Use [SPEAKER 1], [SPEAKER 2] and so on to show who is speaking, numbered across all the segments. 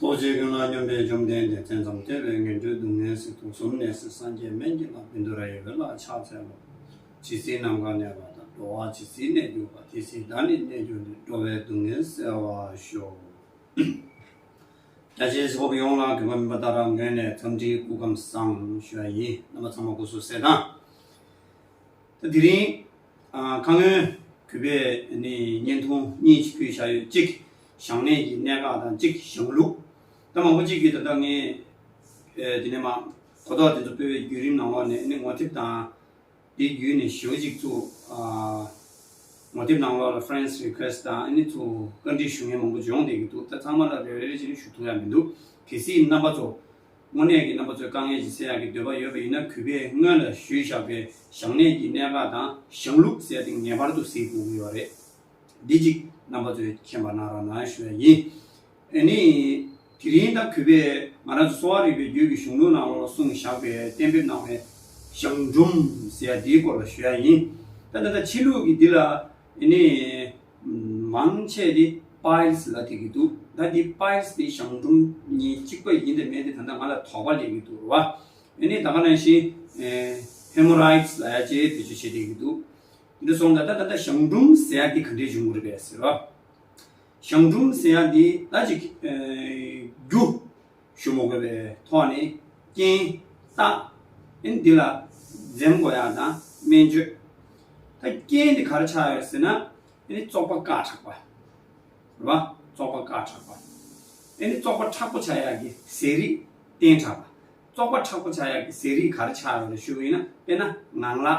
[SPEAKER 1] རྡོ་རྗེ་ཀུན་ལ་སྙོམས་པའི་བཅོམ་ལྡན་འདས་བཙན་འཛོམ་སྟེར་བའི་ངན་འགྲོའི་སྡུག་བསྔལ་སྲིད་དུ་ཟུམ་ནས་སྲིད་སངས་རྒྱས་སྨན་གྱི་ལྷ་བི་མདོ་ར་ཡི་བི་ལ་ཕྱག་འཚལ་ལོ། ཇི་སྲིད་ནམ་མཁའ་གནས་པ་དང་འགྲོ་བ་ཇི་སྲིད་གནས་གྱུར་པ་དེ་སྲིད་བདག་ནི་གནས་གྱུར་ནས་འགྲོ་བའི་སྡུག་བསྔལ་བསལ་བར་ཤོག། རྒྱ་ཆེའི་སྤོབས་ཡོངས་ལ་དགེ་བ་མིན་པ་དག་རང་ངོས་ནས་འཚམས་འདྲིའི་སྐུ་ཁམས་བཟང་ཞུ་བ་ཡིན་རྣམ་པ་ཚང་མ་སྐུ་གཟུགས་གསལ་དང། ད་དེ་རིང། ཁ་སྔོན་གུས་པས་བརྙན་ཐུང་གཉིས་ཕྱི་ཕུལ་བཞག་ཡོད་གཅིག། ཞང་གནས་ཀྱི་གནད་འགག་དང་གཅིག་གི་ཞང་ལུགས། ད་མང་པོ་གཅིག་གིས་ད་ལྟ་ངས། དེ་ནས་མ། གོ་རྟོགས་དེ་ཚོ་སྤེལ་བའི་བརྒྱུད་རིམ་ནང་འོག་ནས་ནི་ངོ་དེབ་དང། དེ་བརྒྱུད་ནས་ཞོལ་གཅིག་ཚུ། ངོ་དེབ་ནང་འོག་ལ Friends Request དང་ཨ་ནི་ཚུ། བཀའ་འདྲི་ཞུ་མཁན་མང་པོ་འབྱོངས་བསྡད་ཀྱི་འདུག་ད་ཚང་མ་ལ་རེ་རེ་རེ་བཞིན་ཞུ་ཐུབ་ཡ་མི་འདུག་གལ་སྲིད་རྣམ་པ་ཚོ། དངོས་གནས་ཀྱི་རྣམ་པ་ཚོས་དཀའ་ངལ་གྱི་སེལ་ཡ་གི་འདོད་པ་ཡོད་པ་ཡིན་ན་གུས་པས་སྔོན་ལ་ཞུས་བཞག་པའི་ཞང་གནས་ཀྱི་གནད་འགག་དང་ཞང་ལུགས་ཟེར་དེ་ངེས་པར་དུ་གཟིགས་དགོས་ཀྱི་ཡོད་རེད། བདེ་སྐྱིད་རྣམ་པ་ཚོས་མཁྱེན་པ་ན་ར་ན་ཞུ་བ་ཡིན། ཨེ་ནི། དེ་རིང་ད་གུས་པས་ང་རང་ཚོ་གསོ་བ་རིག་པའི་རྒྱུད་ཀྱི་གཞུང་ལུགས་ནང་ལོག་སྲུང་བཞག་པའི་གཏན་འབེབས་གནང་བའི་གཞང་འབྲུམ་ཟེར་ཡ་དེའི་སྐོར་ལ་ཞུ་ཡ་ཡིན། ད་ནི་ད་ཕྱི་ལུགས་ཀྱི་འདི་ལ་ཨེ་ནི། མང་ཆེ་དེ Piles ལ་དེད་ཀྱི་འདུག་ད་འདི Piles དེ་གཞང་འབྲུམ་གཉིས་གཅིག་པ་ཡིན་ཏེ་མེད་དེ་ད་ནི་ང་ལ་དོགས་པ་ལས་ཀྱི་འདུག་རོ། ཨེ་ནི་ད་ག་ནང་བཞིན Hemorrhoids ལ་ཡ་ཅེས་བེད་སྤྱོད་བྱེད་བསྡད་ཀྱི་འདུག། འདི་སོང་ད་ད་ད་ད་ཞང་འབྲུམ་ཟེར་ཡ་འདི་ག་འདྲའི་འབྱུང་ཁུངས་རེད་པས་ཟེར་རོ། ཞང་འབྲུམ་ཟེར་ཡ་འདི་ད་ཅིག་རྒྱུ། ཞུ་མོ་དགོས་པའི་ཐོག་ནས་རྐྱེན་བརྟགས། ཨན་འདི་ལ་འཛེམ་དགོས་ཡག་དང་སྨན་བཅོས། ད་རྐྱེན་འདི་ག་རེ་ཆགས་ཡོད་ཟེར་ན། ཨན་ནི་བཙོག་པ་དཀར་ཁྲག་པ། རེད་པ། བཙོག་པ་དཀར་ཁྲག་པ། ཨན་ནི་བཙོག་པ་ཁྲག་པོ་ཆགས་ཡག་གི་ཟས་རིགས་བསྟེན་དྲགས་པ། བཙོག་པ་ཁྲག་པོ་ཆགས་ཡག་གི་ཟས་རིགས་ག་རེ་ཆགས་ཡོད་རེ་ཞུ་གི་ཡིན་ན་དཔེར་ན་ངང་ལག།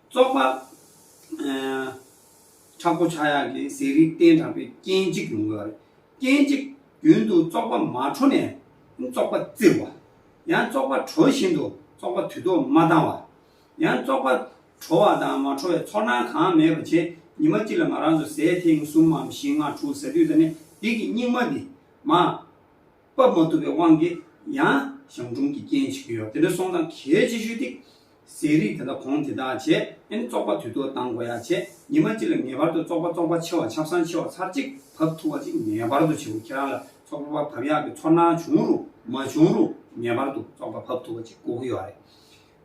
[SPEAKER 1] བཙོག་པ། ཁྲག་པོ་ཆག་ཡག་གི་ཟས་རིགས་བསྟེན་དྲགས་པའི་རྐྱེན་གཅིག་ཡོང་གི། རྐྱེན་གཅིག། རྒྱུན་དུ་བཙོག་པ་མ་འཕྲོ་ནས་བཙོག་པ་བཙིར་བ། ཡང་བཙོག་པ་དྲོ་བཞིན་དུ་བཙོག་པ་དུས་ཐོག་མ་བཏང་བ། ཡང་བཙོག་པ་དྲོ་བ་དང་མ་འཕྲོ་བའི་ཚོར་སྣང་གང་མེད་པར་བྱེད། ཉི་མ་གཅིག་ལ་ང་རང་ཚོ་ཟས་ཐེངས་གསུམ་མམ་བཞི་ལྔ་དྲུག་ཟ་དུས་ད་ནི་སྡིག་གི་སྙིགས་མ་འདི། མ། སྤབ་མ་ཐུབ་པའི་དབང་གིས་ཡང་གཞང་འབྲུམ་གྱི་རྐྱེན་བྱེད་ཀྱི་ཡོད་དེ་འདྲ་སོང་ཙང་གལ་ཆེ་ཤོས་དེ། ཟས་རིགས་དེ་དག་གོང་དེ་དག་བྱས་ཨེ་ན་བཙོག་པ་དུས་ཐོག་བཏང་དགོས་ཡ་བྱས་ཉི་མ་གཅིག་ལ་ངེས་པར་དུ་བཙོག་པ་བཙོག་པ་ཆེ་བ་ཆབ་སྲང་ཆེ་བ་ཚར་གཅིག་བབས་ཐུབ་པ་ཅིག་ངེས་པར་དུ་བྱེད་དགོས་ཁྱེད་རང་ལ་བཙོག་པ་བབས་ཡག་གི་ཚོར་སྣང་བྱུང་རུང་མ་བྱུང་རུང་ངེས་པར་དུ་བཙོག་པ་བབས་ཐུབ་པ་ཅིག་བསྐོ་གི་ཡོད་རེད།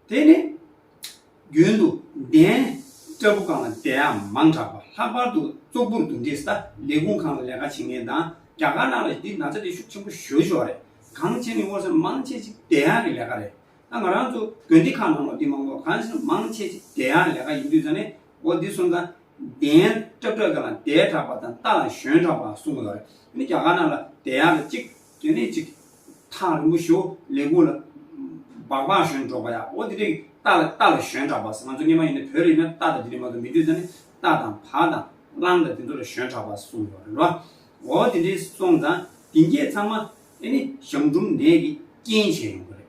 [SPEAKER 1] དེ་ནི། རྒྱུན་དུ་གདན་སྐྲ་བུ་གང་ལ་དད་ཡམ་མང་དྲགས་པ་ལྷག་པར་དུ་ཙོག་པུར་འདུག་འདི་ས་ལས་ཁུངས་གང་ལ་ལས་ཀ་བྱེད་མཁན་དང་རྒྱ་དཀར་ནག་ལ་འདི་ན་ཚ་འདི་ཤུགས་ཆེན་པོ་ཞུ་ཞོར་རེད་གང་བྱེད་ནི་དངོས་སུ་མང་ཆེ་ཆེ་དད་ཡམ་གི་ལས་ཀ་རེད་ད་ང་རང་ཚོ་དགོན་སྡེ་ཁག་ནང་ལོ་འདི་མང་པོ་གང་བྱེད་ན་མང་ཆེ་ཆེ་དད་ཡམ་ལས་ཀ་ཡིན་དུས་ས་ནི་འོ་འདི་གསུམ་དང། གདན་སྐྲ་བུ་གང་ལ་དད་དྲགས་པ་དང་རྟ་ལ་ཞོན་དྲགས་པ་གསུམ་ཡོད་རེད་འདི་རྒྱ་དཀར་ནག་ལ་དད་ཡམ་རེད་གཅིག་དེ་ནས་ཅིག། ཐང་རིང་པོ་ཞོ་ལེ་གུང་ལ། བག་བག་ཞོན་འགྲོགས་པ་ཡ། འོ་དེ་རིང་རྟ་ལ་རྟ་ལ་ཞོན་གྲགས་པ་ཟེར། ང་ཚོ་སྔས་མ་ཡིན་ནའི་བོད་རིགས་ན་རྟ་དང་དེ་རིང་མ་གཏོགས་མི་འདུས་ས་ནི་རྟ་དང་བག་དང་གླང་དང་དེ་ཚོ་ལ་ཞོན་གྲགས་པ་གསུངས་ཡོད་རེད་ལོ། འོ་དེ་འདྲའི་སོང་ཙང་དེ་འགྱེད་ཚང་མ་ཨེ་ནི་ཞང་འབྲུམ་ནད་ཀྱིས་རྐྱེན་བྱས་ཡོང་གི་རེད།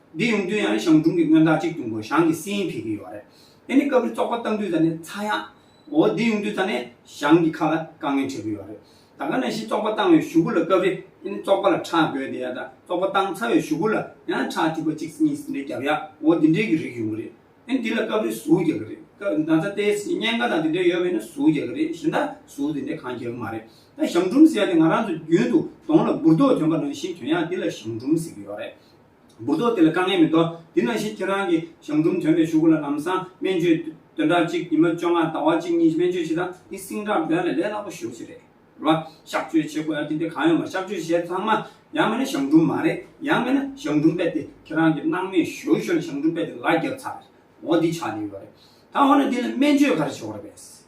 [SPEAKER 1] འདི་ཡོང་དུས་ཡང་ཞང་ཀྲུང་གི་མངོན་རྟགས་གཅིག་ཏུ་འགོ་ཞང་གི་སྲིད་ཡིན་ཕེབས་ཀྱི་ཡོད་རེད། དེ་ནི་སྐབས་རེ་ཙོག་པ་བཏང་དུས་ད་ནི་ཚ་ཡག་འོ་འདི་ཡོང་དུས་ད་ནི་ཞང་གི་ཁ་ལ་དཀའ་ངལ་འཕྲད་ཀྱི་ཡོད་རེད། ད་ག་ནང་བཞིན་ཙོག་པ་བཏང་བའི་ཞུ་གུ་ལ་སྐབས་རེ་ཨེ་ནི་ཙོག་པ་ལ་ཁྲག་རྒོད་དེ་ཡག་དང་ཙོག་པ་བཏང་ཚར་བའི་ཞུ་གུ་ལ་ཡང་ཁྲག་བཅུ་པ་གཅིག་གཉིས་ཟིན་འདྲེ་རྒྱབ་ཡག་འོ་འདི་འདྲེ་གི་རིགས་ཡོང་གི་རེད། ཨེ་ནི་འདི་ལ་སྐབས་རེ་ཟུག་རྒྱག་གི་རེད། སྐབས་ན་ཚ་དེའི་སྲིད་བརྙན་འགའ་དང་དེ་འདྲེ་ཡོད་པས་ན་ཟུག་རྒྱག་གི་རེད་གཞན་དག་ཟུག་དེ་འདྲེ་གང་རྒྱག་གི་མ་རེད། ད་ཞང་ཀྲུང་ཟེར་ཡག་དེ་ང་རང་ཚོ་རྒྱུན་དུ་གདོང་ལ་འབུར་རྡོག་ཐོན་པ་ནང་བཞིན་དོན་ཡག་འདི་ལ་ཞང་ཀྲུང་ཟེར་གྱི་ཡོད་རེད། འབུར་ཏོག་དེ་ལ་དཀའ་ངལ་མི་ཐོག་དེ་ནང་བཞིན་ཁྱེད་རང་གི་གཞང་འབྲུམ་དོན་མེད་ཞུགས་དགོས་ལ་ལམ་སང་སྨན་བཅོས་དོན་དག་གཅིག་ཉི་མ་བཅོ་ལྔ་ཟླ་བ་གཅིག་གཉིས་སྨན་བཅོས་བྱེད་སྟངས་འདི་སིང་དྲག་དོན་ལས་ལས་སླ་པོ་ཞུ་ཞིག་རེད་ལ། གཤག་བཅོས་བྱེད་དགོས་ཡ་དེ་འདི་གང་ཡོད་མ་གཤག་བཅོས་བྱས་ཚང་མ་ཡང་མེད་ན་གཞང་འབྲུམ་མ་རེད་ཡང་མེད་ན་གཞང་འབྲུམ་པད་དེ་ཁྱེད་རང་གི་སྣང་མེད་ཞོར་ཞོར་ནས་གཞང་འབྲུམ་པད་དེ་ལ་རྒྱབ་ཚར་རེད་འོ་འདི་ཆགས་ནས་ཡོད་རེད་ད་འོ་ན་འདི་ལ་སྨན་བཅོས་ག་རེ་བྱེད་དགོས་རེད་པས།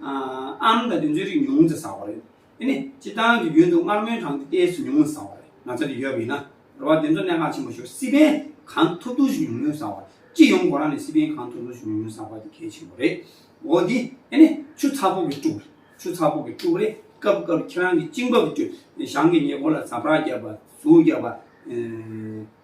[SPEAKER 1] ཨམ་དང་དེ་ཚོའི་རིགས་ཉུང་ཙེ་ཟ་བ་རེད། དེ་ནི་སྤྱིར་བཏང་གི་རྒྱུན་དུ་མངར་མོའི་གྲངས་ཀྱི་ལྟས་སུ་ཉུང་ཙེ་ཟ་བ་རེད། ང་ཚོ་འདི་ཡོད་པ་ཡིན་ན་རེ་བ་དེ་ཚོ་གནད་འགག་ཆེན་པོ་ཞིག་རེད། སི་པན་གངས་མཐོ་གཏུགས་ཤིང་ཉུང་ཉུང་ཟ་བ། སྤྱི་ཡོངས་སྒོ་ར་ནས་སི་པན་གངས་མཐོ་གཏུགས་ཤིང་ཉུང་ཉུང་ཟ་བ་དེ་གལ་ཆེན་པོ་རེད། འོ་དེ་དེ་ནི་ཆུ་ཚ་པོ་གི་དཀྲུག་རེད། ཆུ་ཚ་པོ་གི་དཀྲུག་རེད་སྐབས་སྐབས་ཁྱེད་རང་གི་གཅིན་པ་གི་དཀྲུག། ཞང་གི་ཉེ་འཁོར་ལ་ཟ་བྲག་བརྒྱབ་པ། ཟུག་བརྒྱབ་པ།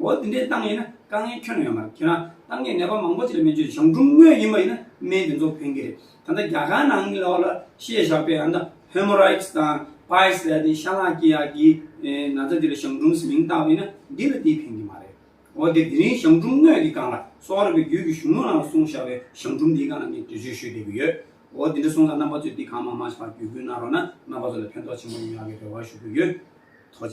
[SPEAKER 1] འོ་དེ་འདྲའི་ཏང་ཡིན་ན་དཀའ་ངལ་ཁྱོན་ན་ཡོད་མ་རེད་ཁྱོད་རང་ཏང་གི་ནད་པ་མང་པོ་ཅིག་ལ་སྨན་བཅོས་བྱེད་བྱུང་འབྲུམ་སྨན་ཡིན་པ་ཡིན་ན་སྨན་དེ་ཚོ་ཕན་གྱི་རེད་ད་ལྟ་རྒྱ་གར་ནང་གི་ལོགས་ལ་ཤེས་བཞག་པའི་ཨ་མདའ Hemorrhoids དང Piles ལས་དེ་ཤ་ལག་སྐྱི་ཡག་གི་ན་ཚ་དེ་ལ་བྱང་འབྲུམ་ཟེར་མིང་བཏགས་པ་ཡིན་ན་འདི་ལ་དེ་ཕན་གྱི་མ་རེད་འོ་དེ་དེ་རིང་བྱང་འབྲུམ་སྨན་གྱི་སྒང་ལ་སོག་རབ་པའི་རྒྱུད་ཀྱི་གཞུང་ལུགས་ནང་ལ་གསུང་བཞག་པའི་བྱང་འབྲུམ་དེའི་སྒང་ལ་ངས་འགྲེལ་བརྗོད་ཞུས་བསྡད་ཀྱི་ཡོད་འོ་དེ་འདྲ་གསུང་ཙང་རྣམ་པ་ཚོས་དེ་གང་མང་མང་ཞིག་བར་བརྒྱུད་སྐུལ་གནང་རོགས་ན་རྣམ་པ་ཚོ་ལ་ཕན་ཐོགས་ཆེན་པོ་ཡོང་ཡག་གི་རེ་བ་ཞུ་གི་ཡོད།